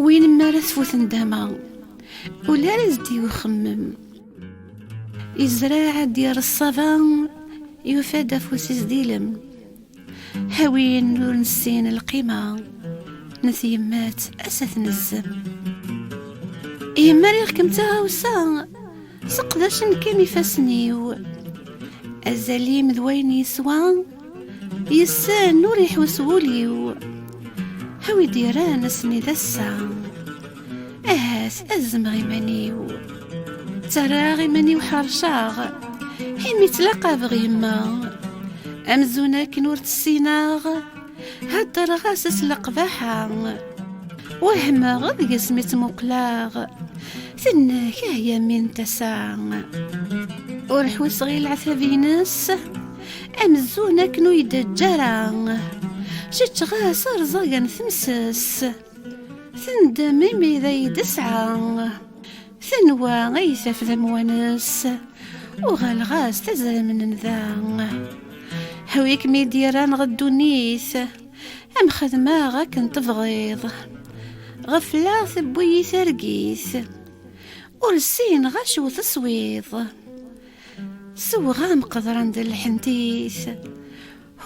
Win mi ara tfut ndama ula ara zdi uxemmem izraɛ ad d-yerr ṣṣaba yufa-d afus-is d ilem hawin ur nessin lqima n tyemmat ass ad tnezzem yemma riɣ-kem d taɣawsa Seqdacen kan ifassen-iw Azal-im d wayen yeswa Yessen ur iḥus wul-iw Hawi d-iran ass-nni d ass-a Ahat ad zemɣ iman-iw Ttarraɣ iman-iw ḥerceɣ Imi ttlaqabeɣ yemma Amzun akken ur tt-ssineɣ Heddreɣ-as s leqbaḥa wehmeɣ deg-s mi tt-muqleɣ tennek ah yamin tasa ur ḥusseɣ i leɛtab-ines amzun akken ur yi-d-eǧǧ ara ceččeɣ-as rẓagan temses tendem imi d ay d-tesɛa Tenwa ay taf d amwanes Uɣaleɣ-as tazramnen da Ḥwi kem-id-yerran ɣer ddunit Am xedmeɣ akken tebɣiḍ Ɣefleɣ tewwi-yi targit Ur ssineɣ acu teswiḍ Sewɣam qeḍran d lḥentit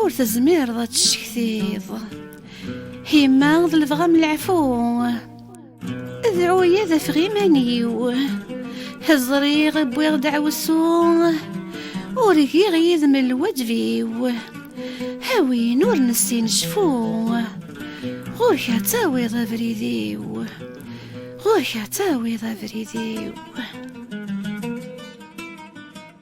Ur tezmireḍ ad tcektiḍ Hima d lebɣa m leɛfu Dɛuya d afeɣ iman-iw Ẓriɣ wwiɣ deɛwessu Ur giɣ yid-m lwaǧeb-iw A win ur nessin cfu Ɣur-k ad tawiḍ abrid-iw Ɣur-k ad tawiḍ abrid-iw